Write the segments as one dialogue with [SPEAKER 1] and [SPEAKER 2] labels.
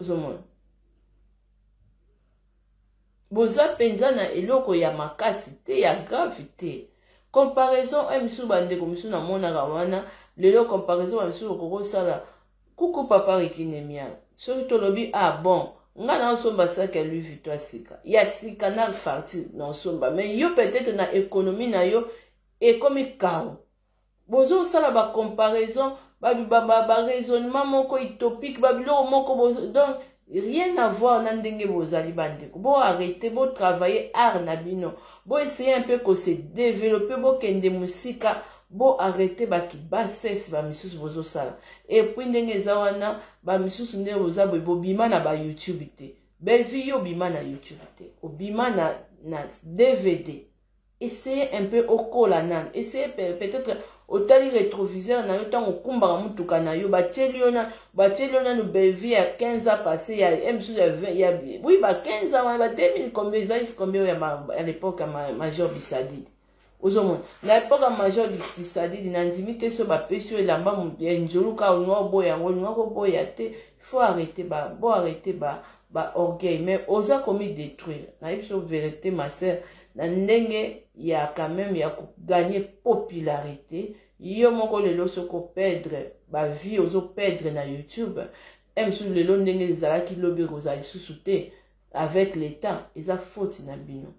[SPEAKER 1] ozomona boza mpenza na eloko ya makasi te ya grave te comparaison oyo mosusu bandeko mosusu namonaka wana lelo comparaison bamisusu okoki osala kuku papa rikinemia soki tolobi ah bon nga naosomba saki ya louis vuitton ya sika ya sika na farti naosomba mais yo peut-être na économie na yo ekomi karo bozosala ba comparaison ba, ba, ba, ba raisonnement moko utopique ba biloko moko bozo, donc rien à voir na ndenge bozali bandeko bo arrete bo travailler art na bino bo essaye un peu ko se développer bokende mosika bo arrete bakibasese bamisusu bozosala epuis ndenge eza wana bamisusu nde boza boye bobima na bayoutube te bellevue yo obima na youtube te obima na, na dvd Essaye un peu okola nanu. Essaye peut-être otali retroviseur na yo tango okumbaka mutuka na yo batieli yo na batieli yo nanu bellevue ya 15 ans passé ya msu ya 20 ya oui ba 15 ans wana ba 2000 combien ezalisi combien oyo ya l'époque ya major bisadide ozomona na epoque ya major bisadide na ndimi te so bapesi yo elamba ya njoluka olinga oboya yango olinga koboya te faut arrete ba bo arrete ba ba orgueil mais oza komi détruire nayebi so verité ma sœur na ndenge ya quand même ya kogagner popularité yo moko lelo soki operdre bavie ozoperdre na youtube e mosusu lelo ndenge ezalaki lobi ekozala lisusu te avec l'état eza faute na bino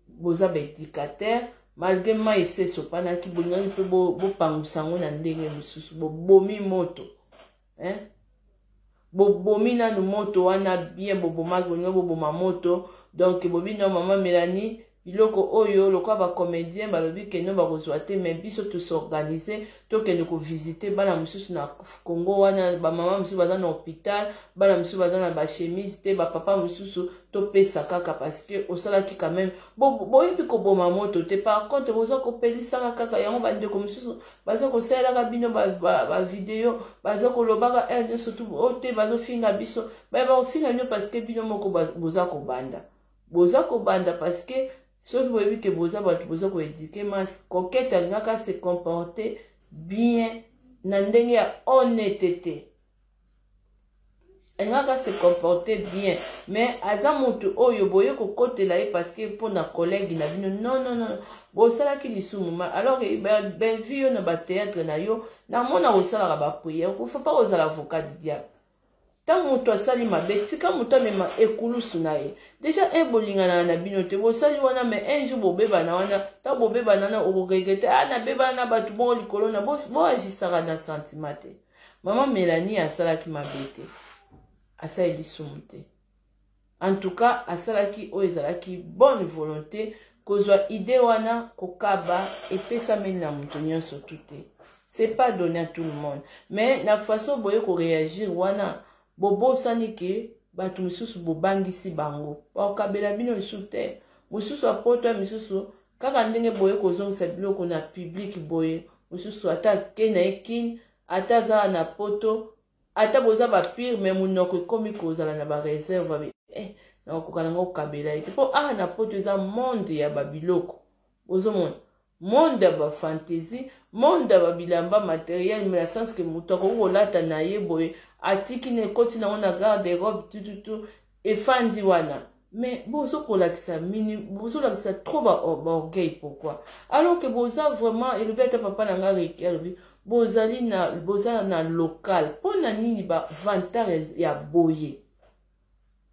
[SPEAKER 1] boza baedicataire malgre mai esi esopanaki bolingaki mpe bopangusa yango na ndenge mosusu bobomi moto hein? bobomi nanu moto wana bien bobomaki bolingi boboma moto donc bobi no mama melanie biloko oyo lokola bacomédien balobi keno bakozwa te mai biso tosorganise tokende kovisite bana mosusu na congo wana bamama mosusu baza na hôpital bana mosusu baza na bachemise te bapapa mosusu topesa kaka parce que osalaki quand même boyebi bo koboma moto te par contre boza kopelisaka kaka yango bandeko mosusu baza kosalelaka bino bavideo ba, ba baza kolobaka heure eh, nyonso tu o oh, te bazofinga biso baye bakofinga bino parceke bino moko boza kobanda boza kobanda parceke soki boyebi ke boza bato boza koedike mas kokete alingaka se comporte bien na ndenge ya honnetete alingaka kaka se comporter bien mais aza motu oyo boye kokotela ye parce que mpo na collègue na bino non non non bosalaki lisumu ma alors que bellevue yo na batheatre na yo namona kosalaka bapriere kofa mpa kozala avocat du diable ntango moto asali mabe tika moto amema ekulusu na ye deja e bolinganaka na bino te bosali wana mai un jour bobebana wana ntango bobebana wana okoregrete a ah, nabebana na bato moko likolo na boagisaka na sentiment te Maman Melanie asalaki mabe te. Asali lisumu te. En tout cas, asalaki oyo ezalaki bonne volonté kozwa idée wana kokaba epesameli na moto nyonso tu te. C'est pas donné à tout le monde. Mais na façon boye ko réagir wana bobosani ke bato mosusu bobangisi bango bakokabela bino lisusu te mosusu apotwa misusu Kaka ndenge boye kozongisa biloko na public boye mosusu ata ake na ye kin ata aza na poto ata boza bapire me monoko ekomi kozala na bareserve abe eh, nakokoka nango kokabela ye te mpo awa ah, na poto eza monde ya babiloko ozomona monde ya bafantaisie monde ya babilamba materiel me na sense ke moto akoki kolata na ye boye atiki na ekoti nango na garde robe tututu efandi wana mais bozo kolakisa mini bozo lakisa trop ba, ba orgueil pourquoi alors que boza vraiment elobi ata papa na nga reki alobi bozali na boza na local mpo na nini ba vantare ya boye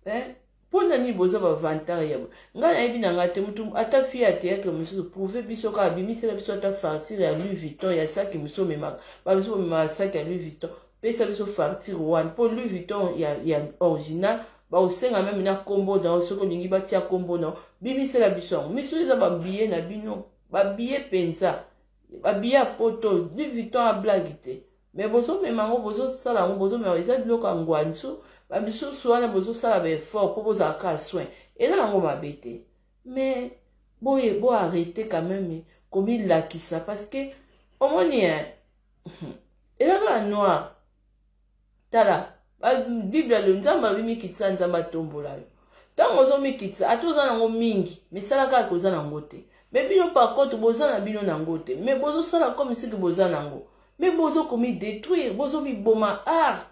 [SPEAKER 1] eh? mpo na nini boza ba vantare ya boye ngai nayebi na ngai te motu ata fie ya théâtre mosusu prouve biso kaka bimisela biso ata fartire ya louis vuitton ya saki mosusu omemaka babiso bomemaka saki ya louis vuitton pesa biso facture wana mpo louis vuitton ya, ya original bakosenga meme na nkombo na yo soki olingi batya nkombo na yo bimisela biso yango misu eza babiye na bino babiye mpenza babiye ya poto louis vuitton ablagi te me bozomema yango bozosala yango bozomema eza biloko ya ngwansu bamisusu wana bozosala baeffort mpo bozala kaka soin eza nango mabe te me boye boarrete quand meme komilakisa parce que omoni ezaka ya noir tala bible alo nzambe alobi mikitisa nzambe atombola yo ntango ozomikitisa ata oza nango mingi misala kaka koza nango te me bino par contre boza na bino nango te me bozosala comme siki boza nango me bozokomidetruire bozomiboma art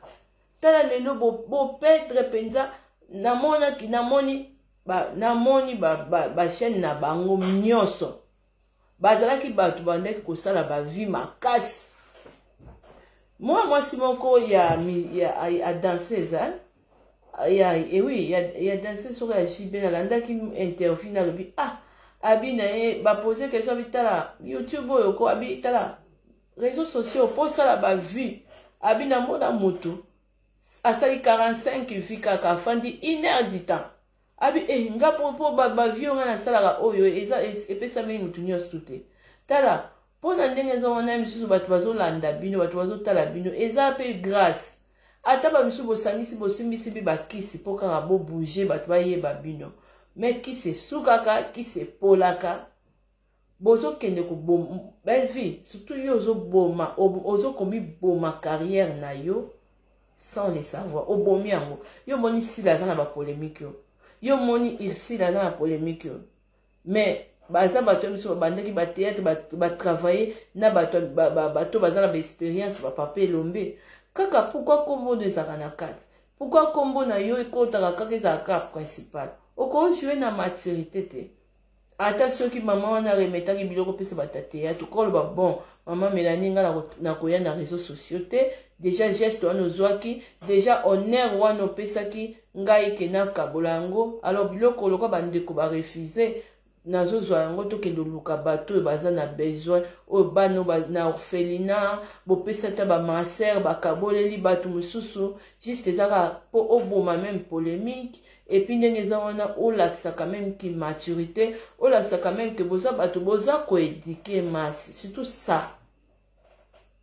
[SPEAKER 1] tala lelo bopetre bo mpenza namonaki namoni namoni bachaine ba, ba, ba na bango nyonso bazalaki bato bandaki kosala bavi makasi mwana mwasi moko ya, ya, ya danseuse hein? ya ewi ya, ya danseuse soko ya jb nalandaki interview nalobi ah abi na ye bapose question abi tala youtube oyo ko abi tala réseau sociaux mpo osala bavue abi namona motu asali 45 vie kaka afandi une heure du temps Abi eh nga po po ba, ba vieux nga nasalaka oyo eza epesameli mutu nyonso tout te tala mpo na ndenge eza wana ya misusu bato bazolanda bino bato bazotala bino eza mpe grace ata bamisusu bosangisi bosimbisi bi bakisi mpo kaka bobouge bato bayeba bino me kisi esukaka kisi epolaka Bozo kende ko bom bellevue surtout yo ozo boma ozo komi boma carrière na yo sans le savoir obomi yango yo moni sila aza na ba polemique yo yo moni ursile aza na polemique yo mais baza bato ya biso babandaki bateatre batravaille na bato bato baza na baexperience bapapa elombe kaka pourkui nkombo oyo ezalaka na kati pourkui nkombo na yo ekotaka kaka ezalaka kaka principal okojoue na maturité te ata soki mama wana aremetaki biloko opesa batate ya tokoki koloba bon mama melani ngai nakoya na réseau sociaux te deja geste wana ozwaki deja honneur wana opesaki ngai ke nakabola yango alors biloko lokola bandeko barefuse nazozwa yango tokende oluka bato oyo baza na besoin oyo bana na orphelina bopesa ata bamaser bakaboleli bato mosusu juste eza kaka mpo oboma meme polemique Et puis ndenge eza wana olakisa quand même ki maturité, olakisa quand même que boza bato boza ko éduquer masse, surtout ça.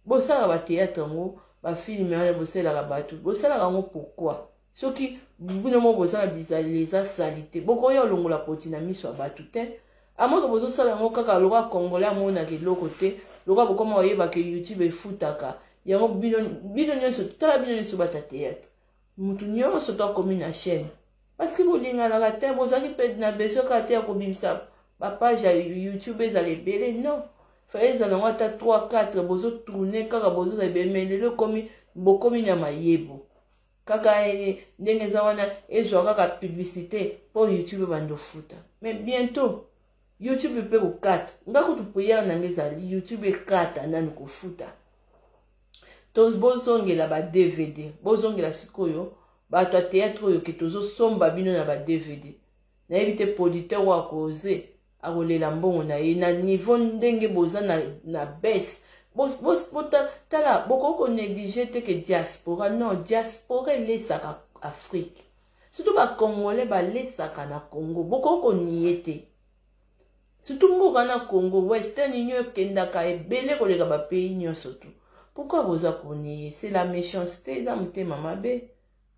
[SPEAKER 1] Bosala ba théâtre yango, ba film wana bosalaka bato, bosalaka yango pourquoi? Soki bino moko boza na bizaleli eza salite, bokoya olongola poti na miso ya bato te. Amoko bozosala yango kaka lokola congolais amonaka eloko te, lokola bokoma koyeba ke YouTube efutaka. Yango bino bino nyonso tala bino nyonso bata théâtre. Mutu nionso to akomi na chaîne parce que bolinganaka te bozalaki pe na besoin kaka te ya kobimisa ba page ya youtube ezala ebele non fallait ezala yango ata 3 4 bozo tourne kaka bozo za ebele mais lelo ekomi bokomi na mayebo kaka eh, ndenge eza wana ezwa kaka publicité mpo youtube ebanda ofuta mais bientôt youtube mpe kokata nga kutu priere na nga ezali youtube ekata nani kofuta toz bozongela ba dvd bozongela sikoyo bato ya théâtre oyo ke tozosomba bino na ba dvd nayebi te producteur oyo akoze akolela mbongo na ye na niveau ndenge boza na, na base tala bokoki konéglige te ke diaspora non diaspora elesaka afrique surtout bacongolais balesaka na congo bokoki konie te Surtout mboka na Congo, Western Union ekendaka ebele koleka ba pays nionso tout. Pourquoi boza koniye? C'est la méchanceté, eza motema mabe.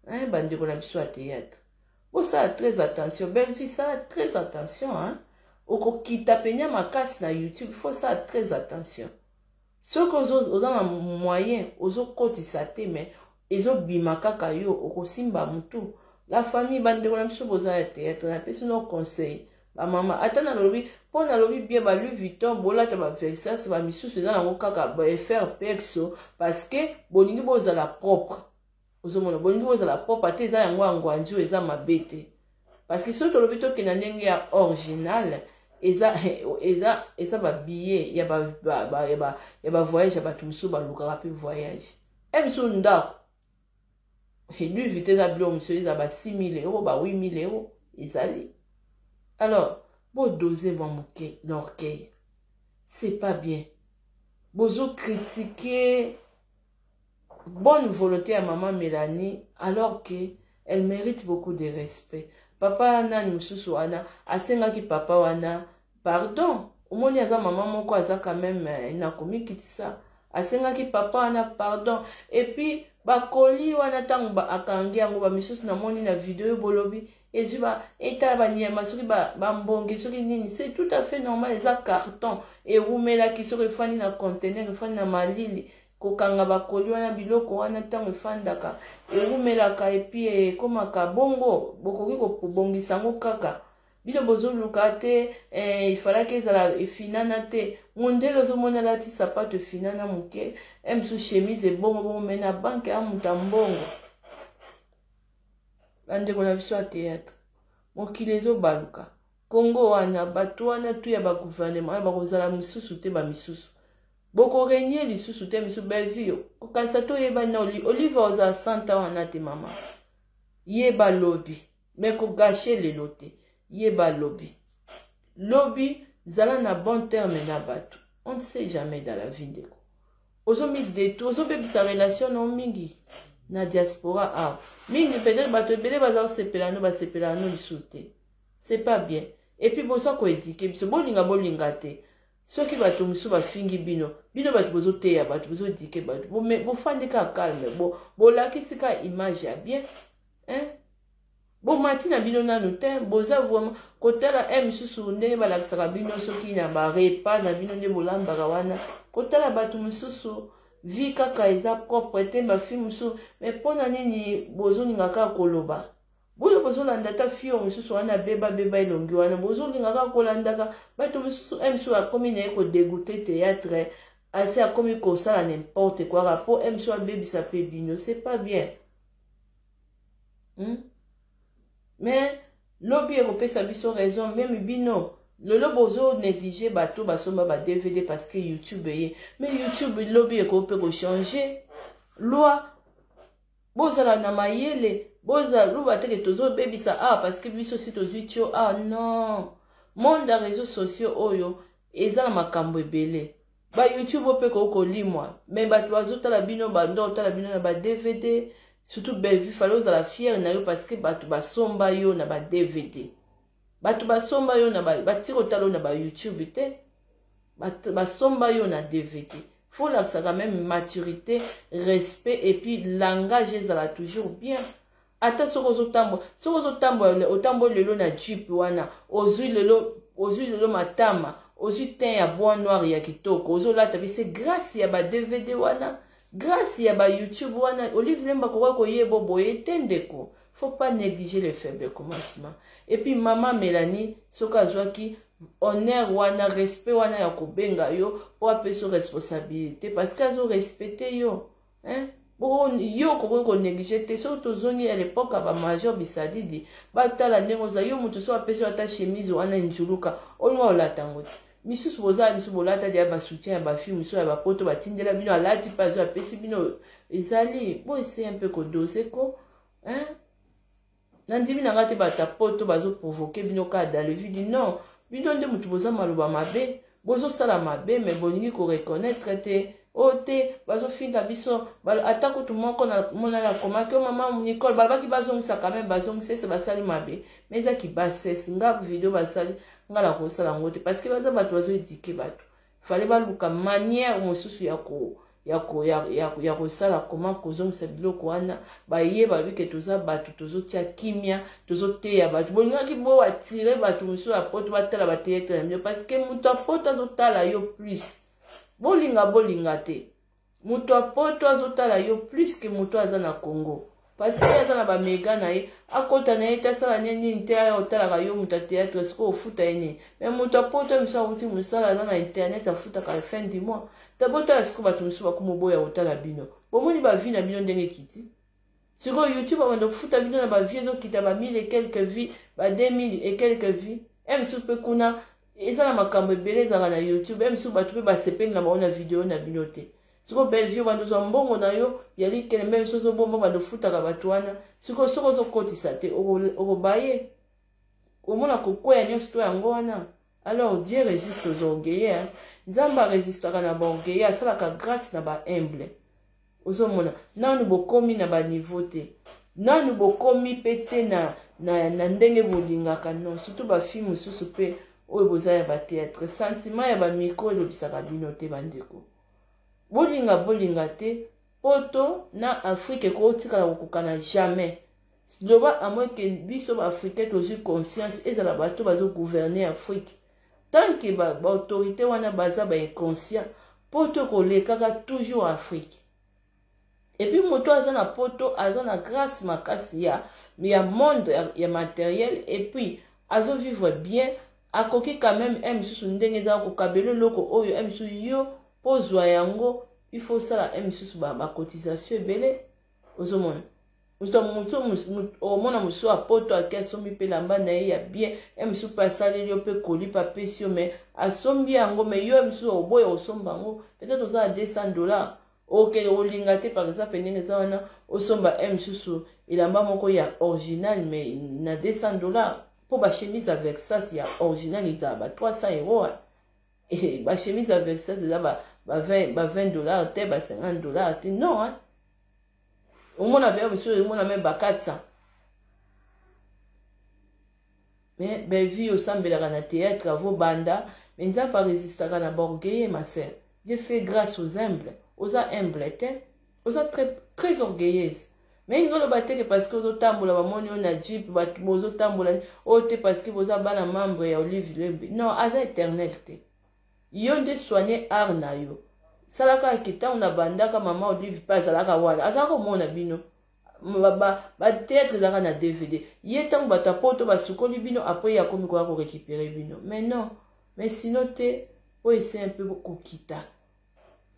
[SPEAKER 1] Hein, bandeko na biso ya théâtre. Bosala très attention, Bellevue sala très attention hein. Okokita penya makasi na YouTube, faut sala très attention. Soki ozo oza na moyen ozo kotisa te mais ezo bima kaka yo okosimba mutu la famille ba ndeko na biso boza ya theatre na pesi no conseil ba mama ata na lobi po na lobi bien ba Louis Vuitton bolata ba Versace ba misusu eza nango kaka ba FR Pexo parce que bolingi bozala propre Ozomona bolingi bozala propre te eza yango ya ngwanju eza mabe te parce que soki tolobi tokende na ndenge ya original eza eza eza ba billet ya ba ba, ba, ya ba, ya ba voyage ya bato mosusu balukaka mpe voyage e eh, mosusu ndako elu vite eza bilo mosusu eza ba 6000 euro ba 8000 euro ezali alors bodose mwa moke l'orgueil c'est pas bien bozo kritike bonne volonte ya maman Melanie alors que elle mérite beaucoup de respect papa nani mususu wana asengaki papa wana pardon omoni aza mama moko aza quand même eh, na komikitisa asengaki papa wana pardon epuis bakoli wana ntango akangi yango bamisusu namoni na video oyo bolobi ezwi ba etala banyama soki bambonge soki nini c'est tout à fait normal eza carton ewumelaki soki efandi na contener efandi na malili kokanga bakoli wana biloko wana ntango efandaka ewumelaka epi ekomaka bongo bokoki kobongisa yango kaka bino bozoluka te eh, ifalaki ezala efinana te mondele ozomona alati sapato efinana moke eh, msu chemise ebongo bongo me na banke amuta mbongo bandeko na biso ya théâtre mokili ezobaluka kongo wana bato wana tu ya baguvernema wana bakozala mosusu te bamisusu bokorenie lisusu te misusu bellevue kokanisa te oyeba na olive ozala santa wana te mama yeba lobi me kogashe lelo te yeba lobi lobi zala na bon terme na bato on ne sait jamais dans la vie ndeko ozo mi detruire ozo bebisa relation na yo mingi na diaspora awa ah. mingi peut-être bato ebele baza kosepela no basepela no lisusu te c'est pas bien et puis boza koedike biso bolinga bolinga te soki bato mosusu bafingi bino bino bato bozoteya bato bozodike bato bofandi ka calme bolakisi ka image ya bien hein? Bomati na bino nanu te boza vraiment kotala e misusu ndenge balakisaka bino soki na ba repas na bino nde bolambaka wana kotala bato mosusu vie kaka eza propre te bafi mosusu me mpo na nini bozolinga kaka koloba boyo bozolanda ata fio mosusu wana beba beba elongi wana bozolinga kaka kolandaka bato mosusu e mosusu akomi na ye kodegoute théâtre asi akomi kosala n'importe kua kaka mpo e mosusu abebisa mpe bino c'est pas bien hmm? mais lobi ekopesa biso raison meme bino lelo bozo néglige bato basomba ba dvd parce que youtube eye mais youtube lobi ekoki mpe kochange loi bozala na mayele bozala loba teke tozobebisa awa ah, parce que biso si tozwi tio awa ah, non monde ya réseau sociaux oyo Eza na makambu ebele. Ba youtube oyo pe ekoki kolimwa mais batu bazo tala bino ba nde otala bino na ba dvd surtout Bellevue fallait ozala fière na yo parce que batu basomba yo na ba dvd batu basomba yo na ba batiki kotala yo na ba youtube te basomba yo na dvd faut lakisa quand même maturité respect et puis langage ezala toujours bien Ata soki ozo tambola, soki ozo tambola, otamboli lelo na jeep wana, ozui lelo, ozui lelo matama, ozui teint ya bois noir ya kitoko, ozo lata bien, c'est grace ya ba DVD wana, grace ya ba YouTube wana, Olive Lemba akoka koye bo boye te ndeko. Faut pas negliger les faibles commencements. Et puis maman Melanie, soki azuaki honneur wana, respect wana ya kobenga yo, po apeso responsabilité, parce que azo respecter yo. hein yo okoki konéglige te soki tozongi ya lepoke ya bamajor bisadidi batala ndenge oza yo moto so apesi yo ata chemise wana enjuluka olinga olata yango te misusu boza misusu bolata deya basoutien ya bafilme misusu ya bapoto batindela bino alati mpe azo apesi bino ezali bo ese mpe kodose ko hein? Nandimi na nga te bato ya poto bazo provoquer bino kaka dans le vue du non bino nde moto boza maloba mabe bozosala mabe me bolingi koreconnaitre te o oh, te bazofinga biso ata kutu moko monani akomaki o oh, mama nicole balobaki bazongisa quand même bazongisa ese basali mabe ma eza kibasese nga video basali nga nakosala yango te parce que baza bato bazoedike bato fale baluka manière mosusu ya ko ya ko ya, ya, ya kosala koma kozongisa biloko wana baye balobi ke toza bato tozotia kimia tozoteya bato bolingaki bo atire bato mosusu ya poto batala bateatre na bino parceke moto ya poto azotala yo plus bolinga bolinga te moto ya poto azotala yo plus ke moto aza na congo parce ye aza na bamega na ye akota na ye te asala ne nini te aya otalaka yo moto ya théâtre sikoyo ofuta ye nini me moto ya poto misu awuti mosala aza na internet afutaka fin du mois ta botala sikoyo bato mosusu bakomi oboya kotala bino bomoni bavi na bino ndenge ekiti sikoyo youtube abanda kofuta bino na ba vie ezokita ba mille et quelques vie ba 2000 et quelques vie e mosusu mpe kuna eza na makambo ebele ezalaka na youtube e mosusu bato mpe basepeli na bango na video na bino te sikoyo bellevue obanda ozwa mbongo na yo ya likele mpe mosusu ozobomba obanda ofutaka bato wana sikoyo soki ozokotisa te okobaye omona kokweya nyonso to yango wana Alors Dieu resiste aux orgueilleux hein. Nzambe aresistaka na ba orgueilleux asalaka grâce na ba humble. Ozomona nanu bokomi na ba niveau te. Nanu bokomi pe te na na, na ndenge bolingaka non surtout ba filles mosusu pe oyo boza ya ba théâtre sentiment ya ba micro elobisaka bino te bandeko. Bolinga bolinga te Poto na Afrique ekoki kotikala kokokana jamais. Loba à moins que biso ba Africains tozui conscience ezala bato bazo gouverner Afrique. Tant que ba, ba autorités wana baza ba inconscients, poto ekolekaka toujours Afrique. Et puis moto aza na poto aza na grâce makasi ya ya monde ya, ya matériel et puis azo vivre bien Akoki quand meme un misusu ndenge eza ko kabelo eloko oyo un misusu yo po ozua yango il faut osala un misusu ba ba cotisation ebele ozo mona mutu mutu omona mususu a poto ake asombi pe lamba na ye ya bien un misusu pe asaleli yo pe koli pe apesi yo mais asombi yango mais yo un misusu oboya osomba yango peut-être oza na 200 dollars oke olinga te par exemple ndenge eza wana osomba un misusu elamba moko ya original mais na 200 dollars Po ba chemise ya Versace ya original ezala ba 300 euros hein. Eh, ba chemise ya Versace eza ba ba 20 ba 20 dollars te, ba 50 dollars te. Non hein. Omona verre mosusu omona même ba 400. Mais Bellevue osambelaka na théâtre avo banda, mais Nzambe a resistaka na ba orgueilleux ma sœur. Dieu fait grâce aux humbles. Oza humble te. oza très très orgueilleuse mais ninga oloba te ke parce que ozotambola bamoni yo na jeep bato bozotambola oyo oh, te parce que boza bana membre ya olive lembe non aza éternel te yo nde soigne art na yo salaka ke ntango nabandaka mama olive mpe azalaka wana azalaka komona bino batheatre ezalaka na dvd ye ntango bato ya poto basukoli bino apres ye akomi koya korekipere bino mais non mais sino te oyo ese mpe kokita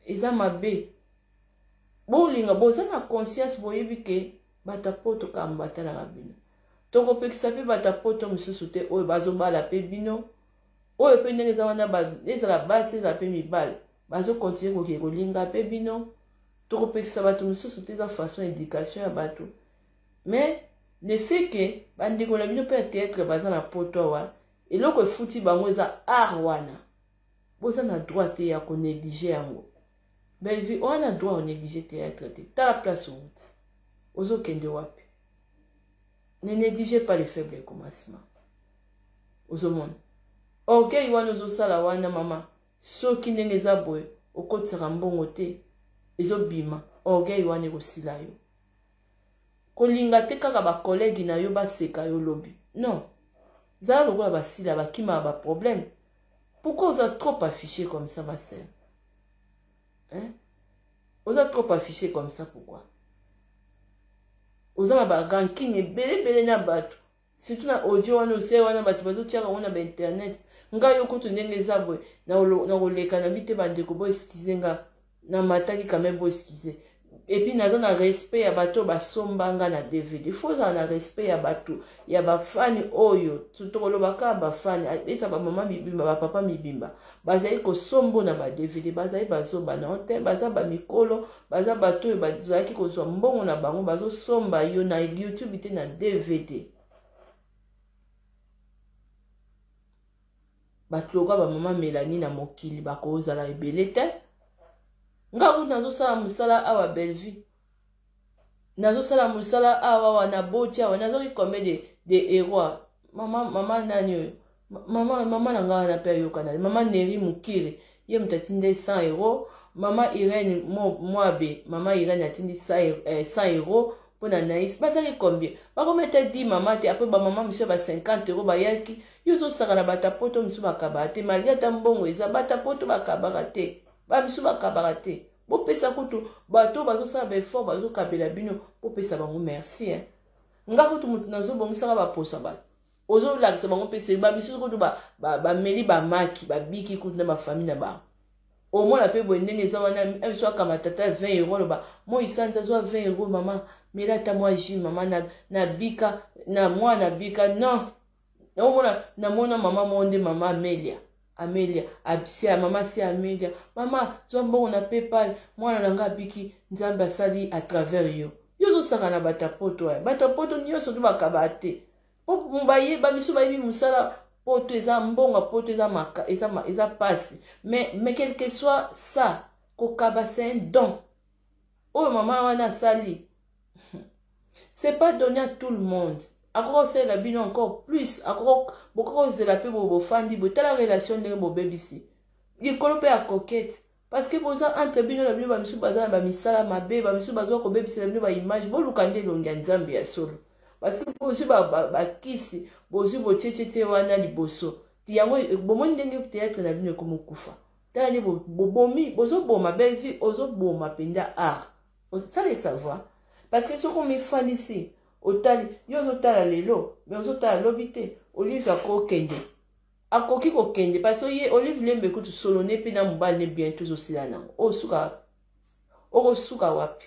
[SPEAKER 1] eza mabe bolinga boza na conscience boyebi ke bato ya poto kambo batalaka bino tokopekisa mpe bato ya poto mosusu te oyo bazobala mpe bino oyo mpe ndenge eza wana ezala basi ezala mpe mibale bazokontinue kokee kolinga mpe bino tokopekisa bato mosusu te eza façon éducation ya bato mais le fait ke bandeko na bino mpe ya théâtre baza na poto awa eloko efuti bango eza art wana boza na droit te ya ko neglige yango bellevue oza na droit ya neglige théâtre te tala place owuti ozokende wapi ne neglige pas le faible commencement ozomona orgueil wana ozosala wana mama soki ndenge eza boye okotisaka mbongo te ezobima orgueil wana ekosila yo kolinga te kaka bakolege na yo baseka yo lobi non zala lokola basila bakimaka baproblème Pourquoi oza trop affiché comme ça ma sœur? Hein? Oza trop affiché comme ça pourquoi? Oza na ba ranking ebele ebele na bato. Surtout na audio wana ose wana bato bazo tiaka ngo na ba internet. Nga yo kutu ndenge eza boye na koleka na bite bandeko bo excuse nga. na mataki quand même bo excuse et puis naza na respect ya bato oyo basomba nga na dvd fo ozala na respect ya bato ya bafani oyo tokoloba kaka bafani eza bamama mibimba bapapa mibimba bazali kosombo na ba dvd bazali bazoba na te baza bamikolo baza bato oyo bazalaki kozwa mbongo na bango bazosomba yo na youtube te na dvd bato lokola bamama melanie na mokili bakozala ebele te nga kutu nazosala mosala awa bellevue nazosala mosala awa awa na boti awa nazoki combien de, de eroi mama mama nani oyo mama mama na nga wana mpe ayokana mama neri mokiri Ye moto atindi nde 100 euros. Mama Irene Moabe, mama Irene atindi 100 euros mpo na Naïs. Bazali combien? Bakomi ata 10 mama te, après ba mama mosusu ba 50 euros bayaki. Yo ozosaka na bata poto mosusu bakabaka te, malgré ata mbongo eza, bata poto bakabaka te. Ba mosusu bakabaka te. Bopesa kutu bato bazosala ba effort bazokabela bino, bopesa bango merci hein. Nga kutu moto nazobongisaka baposo ya bato. ozolakisa bango mpe se bamisusu kutu bameli ba, ba bamaki babiki kutu na bafami na bango omona mpe boye ndenge eza wana biso akama tata 20 euro aloba moi sanza zwa 20 euro mama mela ata mwa ji mama na, na bika na mwa na bika non omona namona mama moko nde mama amelia amelia absia mama si amelia mama zwa mbongo na paypal mwana na ngai abiki nzambe asali à travers yo yo ozosaka na bato ya poto aya bato ya poto nyonso tobakaba te po baye ba misu bayebi musala poto eza mbongo poto eza maka eza eza pasi mais mais quelque soit ça kokaba c'est un don oyo mama wana asali c'est pas donné à tout le monde akoka kosalela bino encore plus akoka bokoka kozela mpe bofandi botala relation ndenge bobebisi likolo mpe ya coquete Parce que boza entre bino na bino ba misusu baza na ba misala mabe, ba misusu bazo kobebisela bino ba image, boluka nde elongi ya Nzambe ya solo. Parce que bozwi ba, ba, ba kisi, bozwi botietiete wana liboso. Ti yango bomoni ndenge théâtre na bino ekomokufa. Tala nde bobomi, bo bozoboma Bellevue, ozoboma mpenza art. Ça le savoir. Parce que soki omifandisi, otali, yo ozotala lelo, mais ozotala lobi te, olive akokende. Akoki ko kende parce que ye olive lembe kutu solo ne pe na mobali ne bientot ezo sila nango o suka oko suka wapi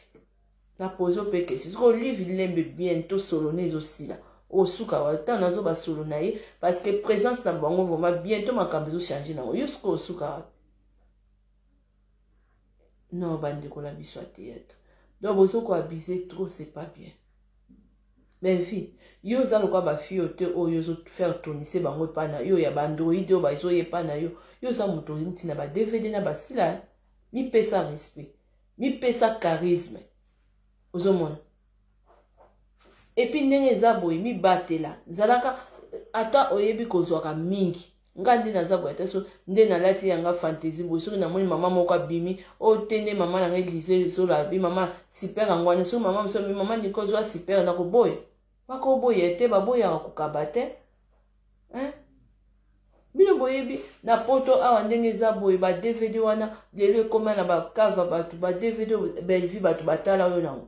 [SPEAKER 1] na pose pe question soki olive lembe bientot solo ne ezo sila o suka wapi tant nazo ba solo na ye parce que presence na bango vraiment bientot makambo ezo changer nango yo suka o suka wapi non bandeko na biso ya théâtre donc bozo ko abuse trop c'est pas bien bellevie yo oza lokola bafille oyo te oyo ozofaire tonise bango epa na yo ya baandroide oyo bazoya epa na yo yo oza moto outi na badvd na basila mipesa respect mipesa charisme ozomona et puis ndenge eza boye mibatela zalaka ata oyebi kozwaka mingi nga nde naza boye ata so nde nalati yanga fantaisie boye soki namoni mama moko abimi o oh, te nde mama nanga elise ezola abi mama super yango wana soki mama mosu abi mama nikozwa super nakoboya bakoboya te baboyaka kokaba te hein? bino boyebi na poto awa ndenge eza boye ba dvd wana lelo ekoma na bakava bato ba dvd bellevue bato batala oyo nango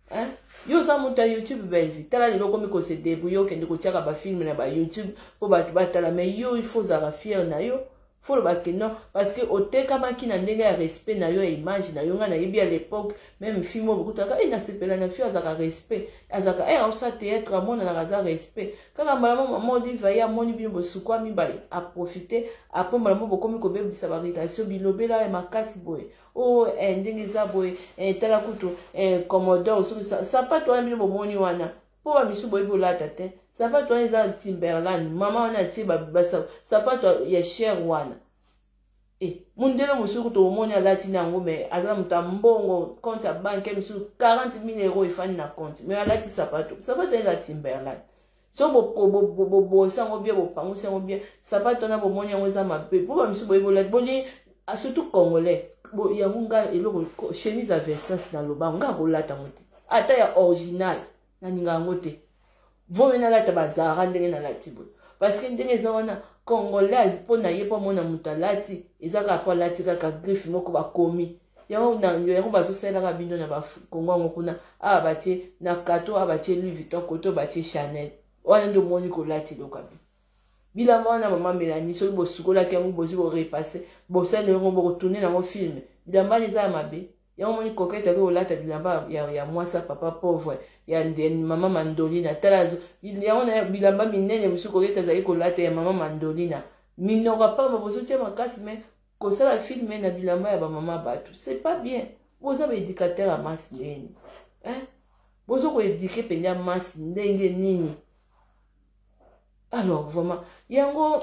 [SPEAKER 1] hein? yo oza moto ya youtube bellevue tala lelo okomi kose debrouille okende kotiaka bafilme na ba youtube mpo bato batala mai yo il faut ozalaka fiere na yo faut loba que non parce que otekamaki na ndenge ya respect na yo ya image na yo ngai nayebi à l'époque même fille moko bokutaka e nasepela na fille azaka respect azaka e aosa théâtre amonanaka aza respect kaka mbala mo mama oliva ye amoni bino bosukwami ba aprofite apres mbala mo bokomi kobebisa barelation bilobela ya makasi boye o oh, eh, ndenge eza boye eh, tala kutu eh, commodore soki sapato wana bino bomoni wana po ba misu boyebi olata te sapato wana eza timberland mama wana atie sapato ya cher wana e eh, mondele mosusu kutu omoni alati na yango mai aza na moto ya mbongo compte ya banke mosusu 40 mille euro efandi na compte mai alati sapato sapato eza timberland so bobosi yango bien bopangusi yango bien sapato wana bomoni yango eza mabe po ba misu boyebi olati boni a surtout congolais bo yango nga eloko chemise ya Versace na loba nga kolata yango te ata ya original na ninga yango te vomi nalata bazara ndenge nalati boye parce que ndenge eza wana congolais mpo na ye mpo amona moto alati eza kaka mpo alati kaka griffe moko bakomi yango na yango bazosalelaka bino na bakongo yango kuna awa batie na kato awa batie louis vuitton koto batie chanel wana nde omoni kolati lokabi bilamba wana mama melani soki bosukolaki yango bozi korepasse bosali yango bokotourne nango filme bilamba wana eza ya mabe yango moni kokete akoki kolata bilamba ya, ya mwasi ya papa pauvre ya mama mandolina tala yango na bilamba minene mosusu kokete azali kolata ya mama mandolina minoko apamba bozotya makasi me kosala filme na bilamba ya bamama bato c'est pas bien boza baéducateur ya masi neni bozo koéduke mpenza masi ndenge nini alors vraiment yango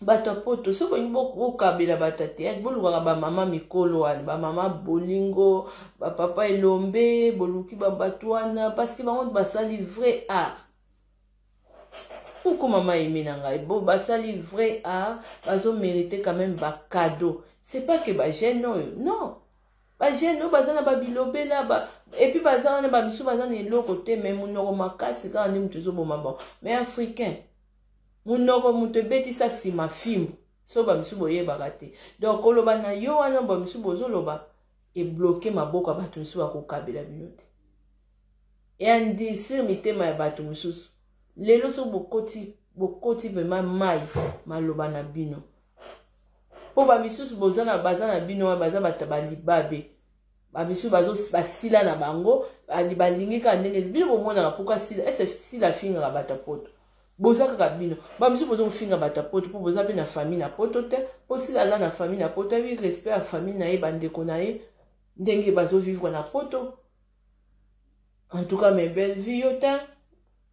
[SPEAKER 1] bato ya poto soki olingi bokabela bato ya teyate bolukaka bamama mikolo wana bamama bolingo bapapa elombe boluki babato wana parceke bango basali vrai art koko mama eme na ngai bo basali vrai art bazomerite quand même bacado c'est pas que bagene oyo non Ba jeune oyo baza na ba bilobela ba et puis baza wana ba misu baza na eloko te mais munoko makasi kaka nde mutu ezoboma bango mais africain munoko mutu ebetisa sima fimbu so ba misu boyebaka te donc koloba na yo wana ba misu bozoloba ebloke maboko ya bato misu bakokabela bino te eandisir mitema ya bato mosusu lelo so bokoti bokoti vraimen mai maloba na bino po ba misusu boza na baza na bino wana baza bata ba libabe ba misusu bazo basila na bango balingi kaka ndenge bino bomonaka pourquoi sila ese sila afingaka bata poto boza kaka bino ba misusu bozo kofinga bata poto po boza pe na famille na poto te po sila aza na famille na poto ayebi respect ya famille na ye bandeko na ye ndenge bazo vivre na poto en tout cas mes belle vie yo te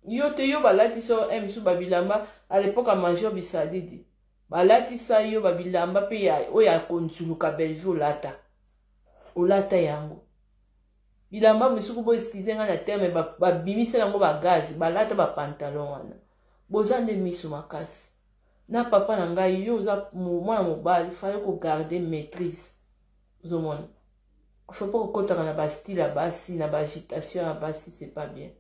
[SPEAKER 1] yo te yo balatisa yo eh, m misusu babilamba à l'époque ya major bisalidi Balatisa yo ba bilamba pe ya oyo ya konzuluka Bellevue olata. Olata yango. Bilamba misusu bo excuse nga na terme babimisa nango ba gaz, balata ba pantalon wana. Boza nde miso makasi. Na papa na ngai yo oza mwana mobali fallait ko garder maîtrise. Ozomona? Faut pas kokotaka na ba style ya basi na ba agitation ya basi c'est pas bien.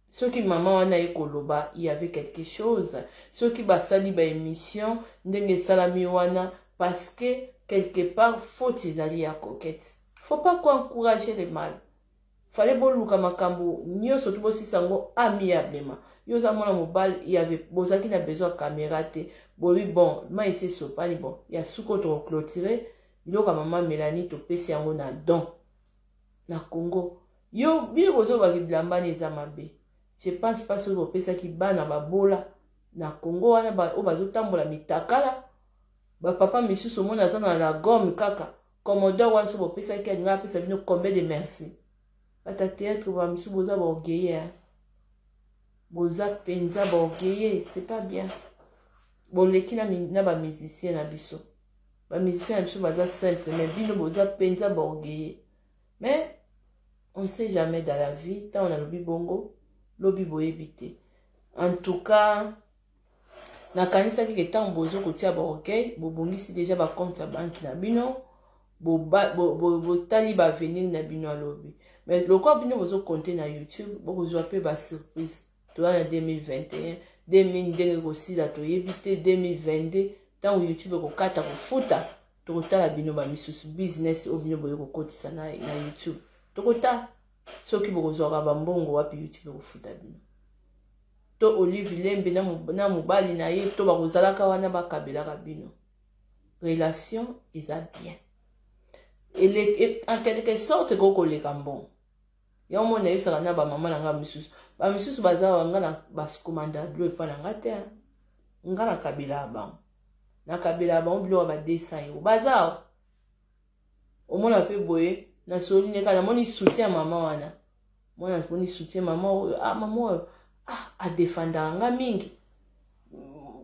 [SPEAKER 1] soki mama wana ye koloba il y avait quelque chose soki basali ba émission ndenge esalami wana parce que quelque part faute ezali ya coquette faut pas ko encourager le mal fale boluka makambo nyonso to bosisa yango amiablement yo oza mwana mobali il avait bozalaki na besoin ya caméra te boyebi bon mai esi esopani bon ya suko toko clôturer biloko ya mama melanie topesi yango na don na congo yo bino bozoloba ki bilamba ne eza mabe je pense pas soki bopesaki bana babola na congo wana oyo bazotambola mitakala bapapa misusu omona aza na la gomme kaka commodore wana soki bopesaki alinga apesa bino combien de merci bata théâtre ba misusu boza baorgueille hein? boza mpenza baorgueille c'est pas bien boleki na, na bamusicien na biso ba musiciens na biso baza simple mais bino boza penza ba orgueilleux mais on ne sait jamais dans la vie ntango nalobi bongo lobi boyebi te en tout cas nakanisaki ke ntango bozo kotia ba orgueil bobongisi deja ba compte ya banki na bino botali ba avenir na bino alobi mais lokola bino bozo compte na youtube bokozwa mpe ba surprise toya na 2021 2000 ndenge kosila toyebi te 2022 ntango youtube ekokata kofuta tokotala bino bamisusu business oyo bino boye kokotisa na, na youtube tokotala soki bokozwaka bambongo wapi youtube ekofuta bino to olive lembe na mobali na ye to bakozalaka wana bakabelaka bino relation eza bien en quelque sorte ekoki koleka mbongo yango moi nayebisaka na bamama na ngai misusu bamisusu baza wa ngai na baskomanda blo epai na ngai te ngai na kabela ya bango na kabela ya bango biloko ya ba 200 euro baza wa omona mpe boye nasoli nde kaka namoni soutien ya mama wana mwana namoni soutien mama oyo ah mama oyo ah adefandaka nga mingi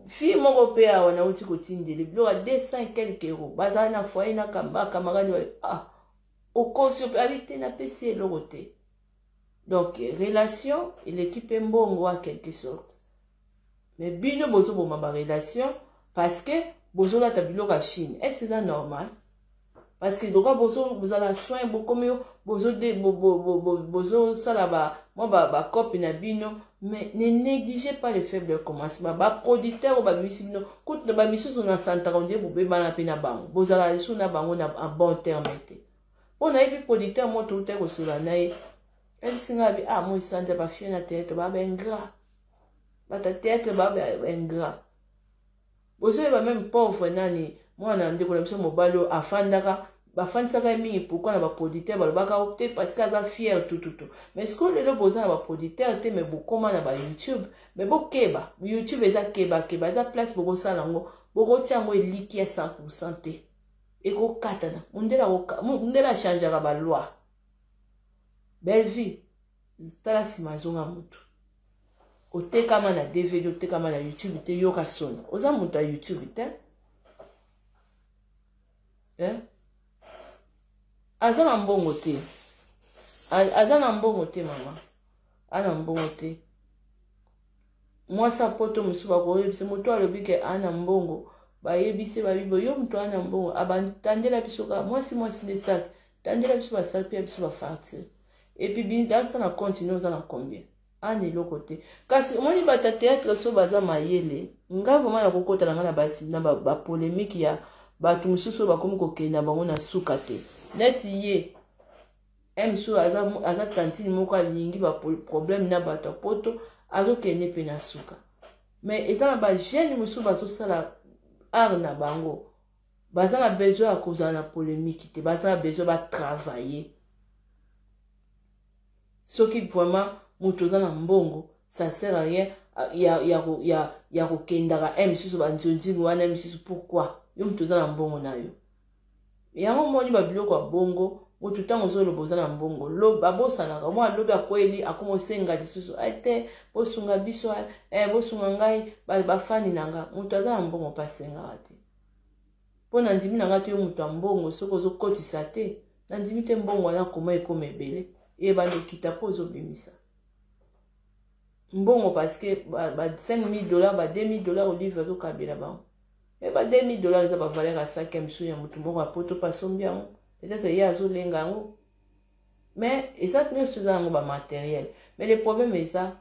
[SPEAKER 1] fille moko mpe awa nauti kotindele biloko ya 200 quelque euro bazala na foyer na kamba kamarani ah O conscient pe abi te napesi ye eloko te. Donc relation eleki pe mbongo a quelque sorte. Mais bino bozo boma ba relation parce que bozo lata biloko ya Chine. Est-ce que eza normal? Parce que lokola bozo bozala soin bokomi bozo de bozo sala ba mwa ba, ba copie na bino Mais ne negligez pas les faibles au commencement. Ba producteurs oyo babimisi bino kutu na bamisusu na santaka ondire bobebana mpe na bango bozalaka lisusu na bango na en bon terme te mpo nayebi producteur moko toutaki kosolola na ye ayebisi ngai abi ah moi santa bafie na theatre baba ingrat bata theatre baba ingrat bozoyeba meme pauvre nani mwana ya ndeko na biso mobali oyo afandaka bafandisaka ye mingi pourkui na baproditeur balobaka o oh, te parce que aza fiere tututu mais sikoyo lelo boza na baproditeur te me bokoma na bayoutube me bokeba youtube eza kebakeba eza place bokosala yango bokotia yango eliki ya 100 pourcent te ekokatana mundele achangeaka baloi bellevue tala sima azonga mutu otekama na dvd otekama na youtube te yoka soni oza moto ya youtube te eh? aza na mbongo te aza na mbongo te mama ana mbongo te mwasi apoto mosusu bakoyebisa moto alobi ke ana mbongo bayebisi babibo yo moto ana mbongo abantandela biso kaka mwasi mwasi nde saki Tangela biso ba salpe ya biso ba facture. Et puis bindakisa na compte no za na combien? Ana ah, eloko te. Kasi omoni bata théâtre so baza mayele. Nga vraiment na kokota na nga na ba na ba, ba polemique ya bato mosusu bakomi kokenda bango na suka te. Net ye mso aza, aza tantine moko alingi ba problème na bato ya poto azokende mpe na suka. Mais eza na ba jeune mosusu bazosala art na bango. baza na besoin ya kozala na polemiki te baza na besoin batravaille soki vraiment moto oza na mbongo ça sert à rien euh, ya, ya, ya, ya kokendaka e eh, misusu banzonzingi wana e eh, misusu pourquoi yo moto oza na mbongo na yo yango omoni babiloko ya bongo moto ntango ozoloba oza na mbongo loba abosanaka mwa lobi akweli akoma osenga lisusu ai eh, te bosunga biso eh, bosunga ngai bafani na nga moto aza na mbongo mpe asengaka te Po na ndimi na nga te yo mutu ya mbongo soki ozo kotisa te na ndimi te mbongo wana comment ekoma ebele ebanda okita po ozo bimisa mbongo parce que ba 5000 dollars ba 2000 dollars olive azo kabela bango e ba 2000 dollars eza ba valeur ya sac ya misu ya mutu moko ya poto pa sombi yango peut-être ye azo lenga yango mais eza nyonso eza yango ba matériel mais le problème eza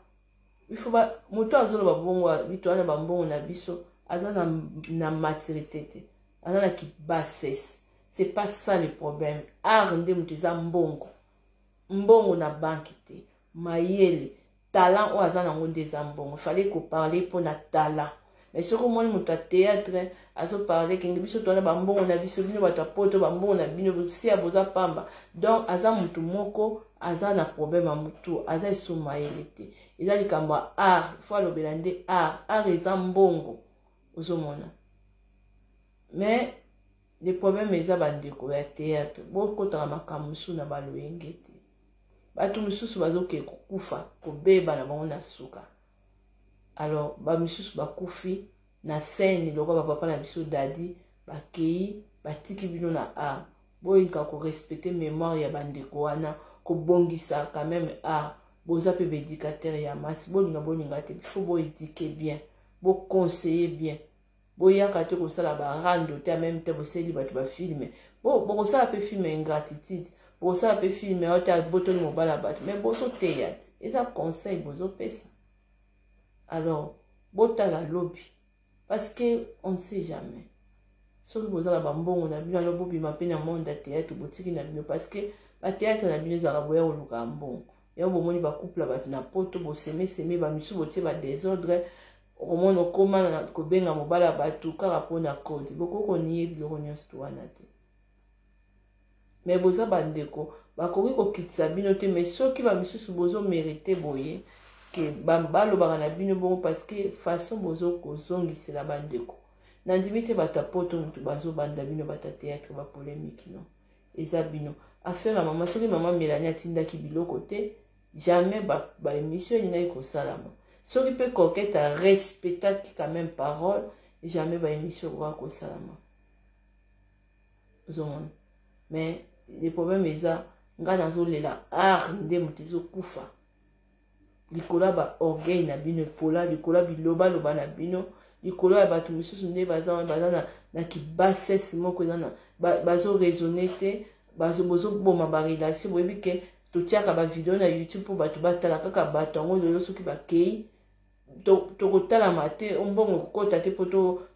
[SPEAKER 1] Il faut ba moto azo loba bongo bitu wana ba mbongo na biso aza na na maturité te aza na ki bassesse c'est pas ça le problème art nde moto eza mbongo mbongo na banki te mayele talent oyo aza nango nde eza mbongo fallait ko parler mpo na talent mais soki omoni moto ya théâtre azoparle kenge biso towana bambongo na biso bino bato ya poto bambongo na bino bosia boza pamba donc aza motu moko aza na problème ya motu aza esuma yele te eza likambo ya art fo alobela nde art art eza mbongo ozomona mais le problème eza bandeko ya théâtre bokotaka makambo mosusu na baloyenge te bato mosusu bazokee kokufa kobeba na bango na suka alors bamisusu bakufi na scène lokola bapapa na biso dadi bakei batiki bino na art boyinka korespecte mémoire ya bandeko wana kobongisa quand même art boza mpe baédicateur ya masi bolinga bolinga te bifo boedike bien boconseille bien Boyaka te kosala ba rando te en même temps bosaleli bato ba filme. Bo bokosala pe filme ingratitude. Bokosala pe filme oyo ta botoli mobala bato mais bozo teya te. Eza conseil bozo pesa. Alors botala lobi parce que on ne sait jamais. Soki boza na ba mbongo na bino alors bobima pe na monde ya théâtre botiki na bino parce que ba théâtre na bino ezalaka boya koluka mbongo. yango bomoni ba couple ya bato na poto bosemeseme bamisusu botie ba desordre okomona okoma na kobenga mobali ya bato kaka mpona kode bokoki koniye biloko nyonso wana te me boza bandeko bakoki kokitisa bino te me soki bamisusu bozomerite boye ke balobaka na bino bongo parceke façon bozo kozongisela bandeko nandimi te bato ya poto motu bazobanda bino bato ya théâtre bapolemiki no Eza bino. Affaire ya maman soki maman Melanie atindaki biloko te jamais ba, ba emission elingaki kosalama. Soki pe coquette a respectaki quand même parole jamais ba emission ekoka kosalama. Ozomona. Mais le problème eza nga nazolela art nde moto ezokufa. likolo ya ba orgueil na bino epola likolo ya bilobaloba na bino likolo ya bato mosusu nde baza wana baza na, na kibasese moko eza na bazoraisonne ba te bozoboma barelation boyebi ke totiaka bavideo na youtube mpo bato batala kaka bato yango lelo soki bakei tokotalama te mbongo ekokota te mpo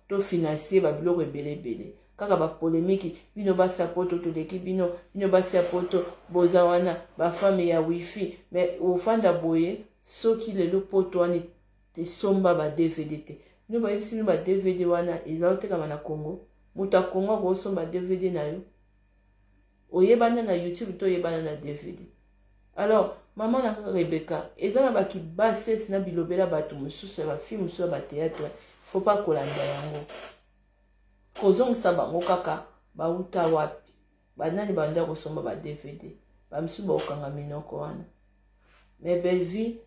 [SPEAKER 1] tofinansie to babiloko ebele ebele kaka bapolemiki bino basi ya poto toleki bino bino basi ya poto boza wana bafami ya wifi me ofanda boye soki lelo poto wana tesomba ba dvd te bino bayebisi bino ba dvd wana eza otekama na congo moto ya congo akosomba dvd na yo oyebana na youtube to oyebana na dvd alors mama na rebeka eza na bakibases na bilobela bato mosusu ya bafilme mosusu ya bateatre faut pas kolanda yango kozongisa bango kaka bauta wapi banani banda kosomba ba dvd bamisusu bakokanga minoko wana me bellevie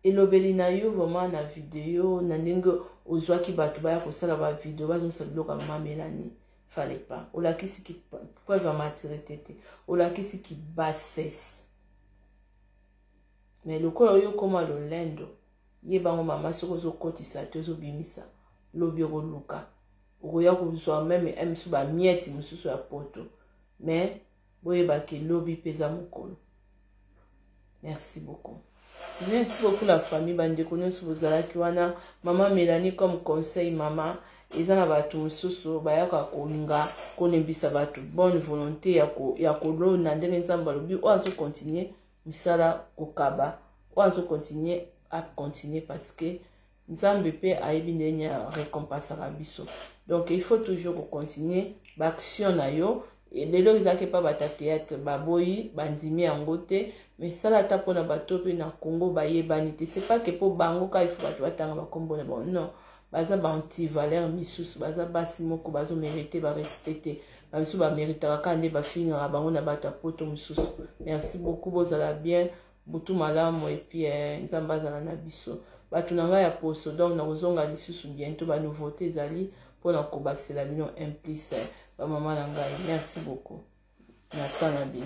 [SPEAKER 1] elobeli na yo vraiment na video na ndenge ozwaki bato baya kosala bavideo bazongisa biloko ya mama melanie fallait pas olakisi ki preuve ya maturité te olakisi ki bassesse mais lokola oyo okoma lolendo ye bango mama soki ozokotisa te ozobimisa lobi okoluka okoya kozwa meme emisu bamieti mosusu ya poto mais boyeba ke lobi mpe eza mokolo merci beaucoup merci beaucoup la famille bandeko nyonso bozalaki wana mama melanie comme conseil mama eza na bato mosusu bayaka kolinga kolembisa bato bonne volonté ya kolona ndenge nzambe alobi oyo azokontinue mosala kokaba oyo azokontinue akontinue parce que Nzambe pe ayebi ndenge recompensaka biso. Donc il faut toujours ko continuer ba action na yo. Lelo ezalaki pa bata théâtre baboyi bandimi yango te mais sala ata pona bato pe na Congo bayebani te c'est pas que po bango ka il faut bato batanga ba kombo na bango non baza ba antivaleur misusu baza basi moko bazo merite ba respect te bamisu bameritaka kaka nde bafingaka bango na bato ya poto mosusu merci beaucoup bozala bien Butu malamu et puis eh, Nzambe azala na biso. Batu na ngai ya poso donc nakozonga lisusu bientôt ba nouveauté ezali mpo na kobakisela bino un plus eh, ba mama na ngai. Merci beaucoup. Na temps na bino.